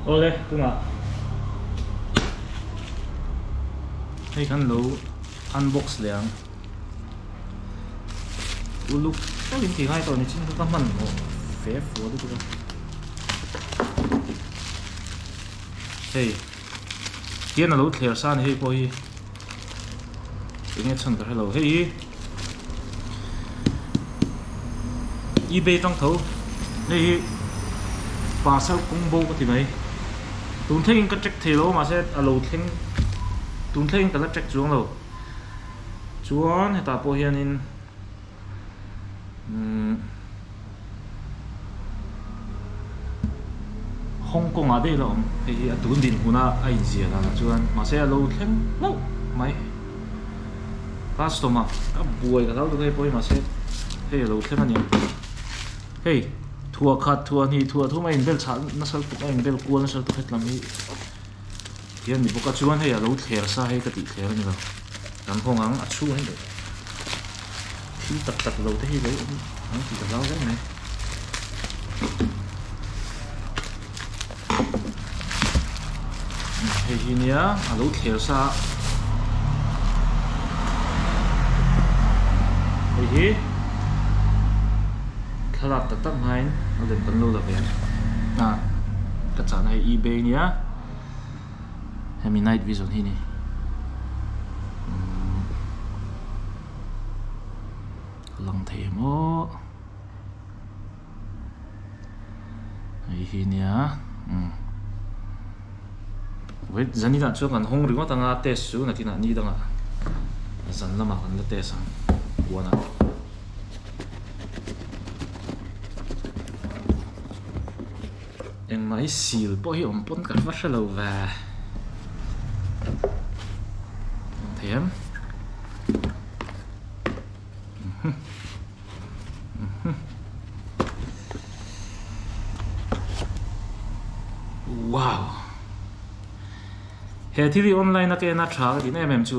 Awle tunah hei khan lo unbox leh ang uluk tawkin ti ngai tawh ni chin kha ka hman hawh fe fua lutuk a hei Hian a lo thler sa a ni hei pawh hi. Eng nge chhan ka hre lo. Hei hi eBay tang tho. Hei hi parcel combo ka ti mai. Tun thleng in ka check thei lo ma se a lo thleng tun thleng in ka la check chuang lo. Chuan heta pawh hian in Hong Kong ah daih la awm hei hi a tun dinhmun a a inziah dan ah chuan mahse a lo thleng hlauh mai customer a buai ka zau tak e pawh hi mahse hei a lo thleng a ni hei thuah khat thuah hnih thuah thu mai inbel chhah nasal tuk a inbel kual nasal tuk hetlam hi-- Tia ni bawk a, chuan hei a lo thler sa hei ka tih thler a ni lo. Kan hawng ang, a chhung em em. Thil tak tak lo te hi lo awm ang tih ka zau zau mai. Hei hi nia, a lo thler sa a. Hei hi. thlalak tak tak hmain a lem kan lo la ve a ka chahna hi ebay a nia hemi night vision hi ni umm a lang thei em aw hei hi nia umm wait zan inah chuan kan hawng ringawt anga test chu nakin ah ni dangah zan lamah kan la test ang huan ah engmah hi sil pawh hi awm pawn ka hre hre lo va hmuh theih ang uhuh uhuh wow he thil hi online a kena tha ka ti daih em em chu.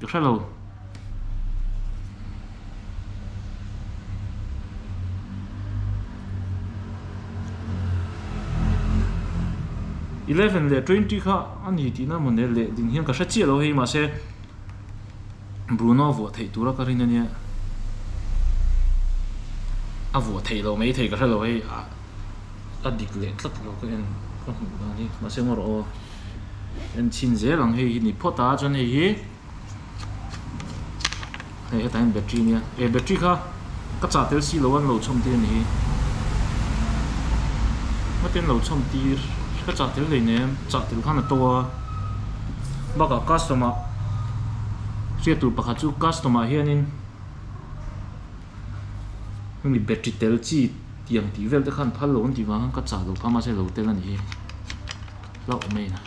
Ka hre lo. Eleven leh twenty kha a ni tihna a munel leh ding hian ka hre chiah lo hei mahse Bruno vuah theih tura ka rin ania a vuah theih lo mai thei ka hre lo hei a a dik leh tlat lo ka en ka hmuh dan hi mahse ngaw rawh aw. Enchin zel ang hei hi ni phawt a, chuan hei hi hei hetah hian battery nia, eh battery kha ka chah tel si lo a, an lo chhawm tir a ni hi, hmati an lo chhawm tir, ka chah tel daih nen chah tel khan a to a, bakah custom ah hriat tur pakhat chu custom ah hianin. hemi battery tel chi tiang tih vel te khan phal lo ang tih vang khan ka chah lo kha mahse lo tel a ni hi hlauh mai ina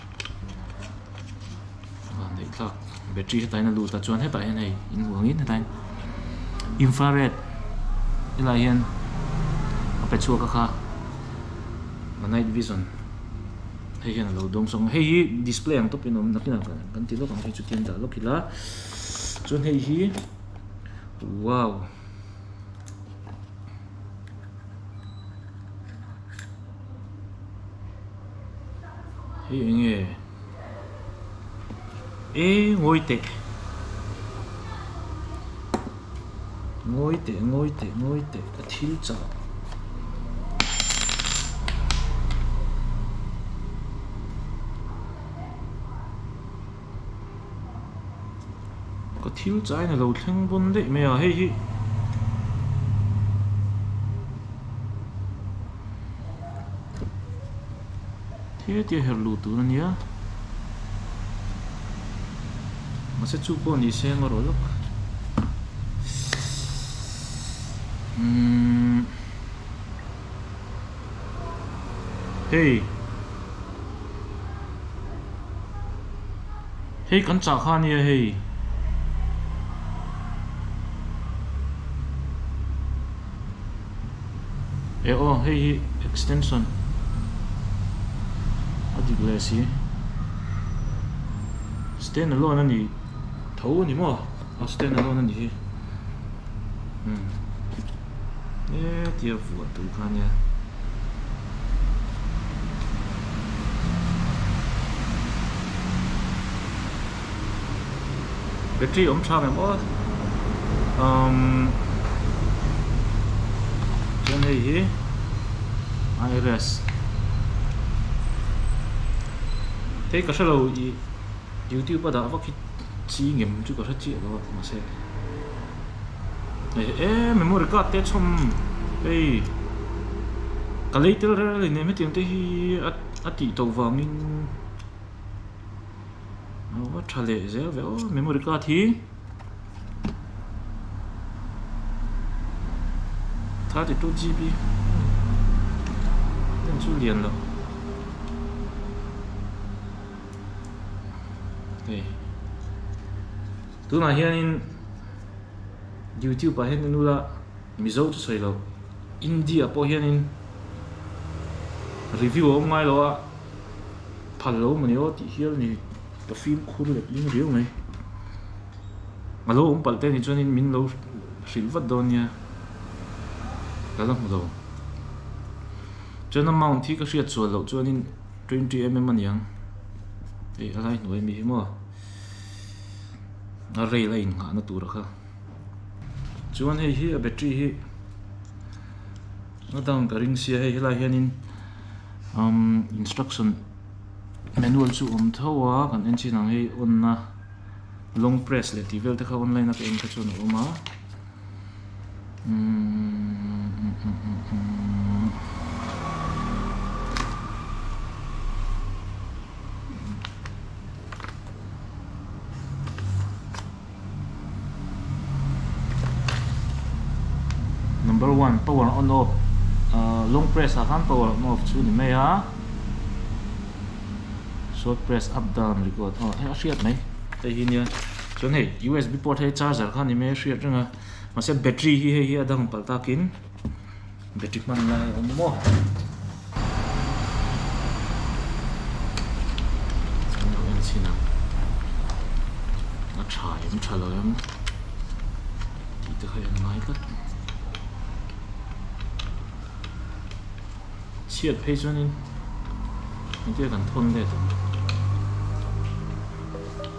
a neih thlak battery heta in a lut a chuan hetah hian hei in hmu angin heta in infra red te lah hian a pe chhuak a kha a night vision hei hian a lo dawng sawk ang hei hi display ang tawp in awm nakin ah kan ti lawk ang hei chu tian dah lawk ila chuan hei hi Wow. Hei eng e. E ngoi te. Ngoi te, ngoi te, ngoi te. Ka thil chak. Ka thil chai nilo thleng bun daih mai a hei hi hetia her lu tun ania mase chu pawh ni se anga rawlh lak umm. Hei. Hei kan chah kha ania hei. E aw hei hi extension a dik leh si stand alone a ni tho a ni maw a stand alone a ni hi hmm. eh tia vuah tur kha nia battery awm thang em aw um chuan hei hi irs hei ka hrelo i youtube a dah vak hi chi ngem chu ka hre chiah lo a mahse eh memory card te chhawm hei ka lei tel rel rel innem hetiang te hi a tih tawh vangin aw tha leh zel ve aw memory card hi thirty two GB heng chu lian loh hei. Tunah hianin YouTube-ah hian i nul a, Mizo chu sawi lo. India pawh hianin review a awm ngai lo a, phal lo mawni aw tih hial a ni. Ka fim khur let ling riau mai. A lo awm palh te ni chuan in min lo hrilh vat dawn nia ka la hmu lo. Chuan amount hi ka hriat sual loh chuan in twenty mm a niang. Hei a lai hnu em hi hi maw? a rail a inghahna tura kha chuan hei hi a battery hi a dan ka ring sia hei helai hianin umm instruction manual chu awm tho a kan enchhinah ang hei on a long press leh tih vel te kha online a ka en kha chuan a awm a. number one power on off ahh long press ah khan power on off chu a ni mai a short press up down record aw a hriat mai hei hi nia. Chuan hei USB port hei charger khan ni mai a hriat reng a, mahse battery hi hei hi a dang palh takin battery hman lai a awm maw. Chuan lo en chhin ang, a tha em tha lo em tih te kha en ngai tlat. Chhiat phei chuan in engtiang kan thawn let ang.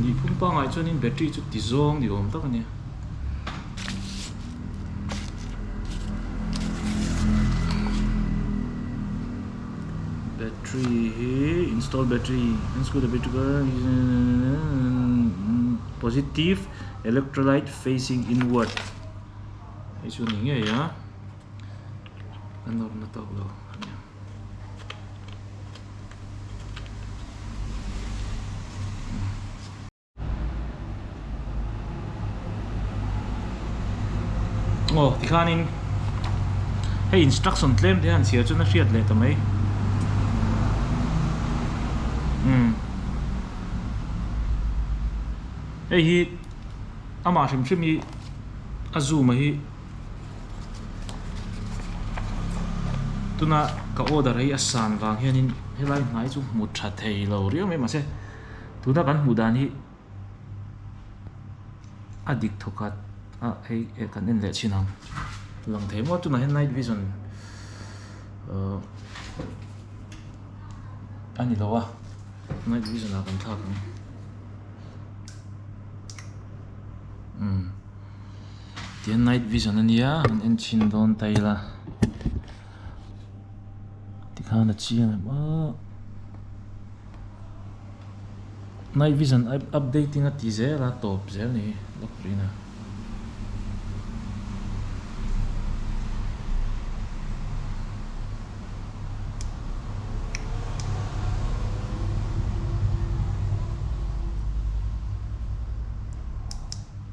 Ni phum pangai chuanin battery chu ti zawng ni awm tak a nia. Battery hi install battery unscrew the battery positive electrolyte facing inward. Hei chu ni ngei a. a nawrna tawk lo ania. Aw tikhanin hei instruction tlem te han sial chu na hriat leh ta mai um hei hi amah hrim hrim hi a zoom a hi tuna ka order hi a san vang hianin helai hnai chu hmu tha thei lo riau mai mahse tuna kan hmuh dan hi a dik thaw khat a hei a kan en leh chin ang lang thei maw tunah hian night vision uh a ni lo a night vision ah kan thlak ang umm. Tian night vision ania han en chin dawn ta ila tikhan a chiang em a night vision updating a ti zel a tawp zel ni hi lock pin a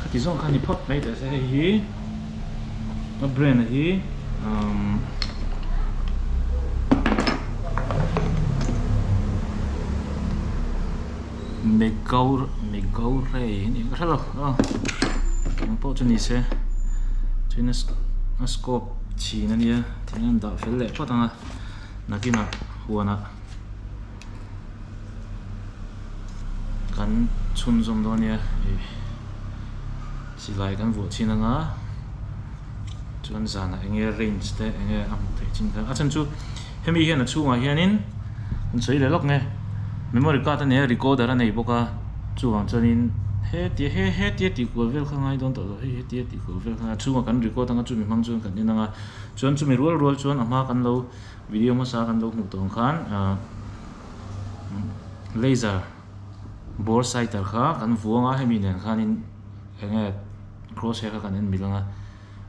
khati zawng khan ni phawt mai teh se hei hi ka brand a hi umm megawr megawr rei a nih ka hre lo a keng pawh chu ni se chuan a a scope chhin a nia thing a indah fel leh phawt ang a nakinah huanah. kan chhun zawm dawn nia ih silai kan vuah chhin anga chuan zanah enge range te enge a hmuh theih chin kha a then chu hemi hian a chhungah hianin kan sawi leh lawk nge memory card a nei a recoder a nei bawk a chuvang chuanin hetia he hetia tih kual vel kha ngai dawn tawh lo hei hetia tih kual vel kha a chhungah kan record anga chumi hmang chuan kan inang a chuan chumi rual rual chuan a hma kan lo-- Video hmasa kan lo hmuh tawn khan laser bore sighter kha kan vuang a hemi nen khanin eng nge cross hair kha kan en bilang a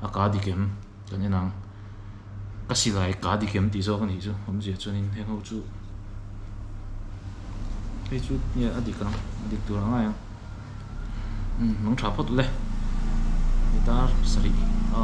a ka dik em kan en ang ka silai ka dik em tih zawk a nih chu awm zia chuan in heng ho chu hei chu nge a dik ang a dik tur ang ngai ang umm mangtha phawt le ni ta sarih a.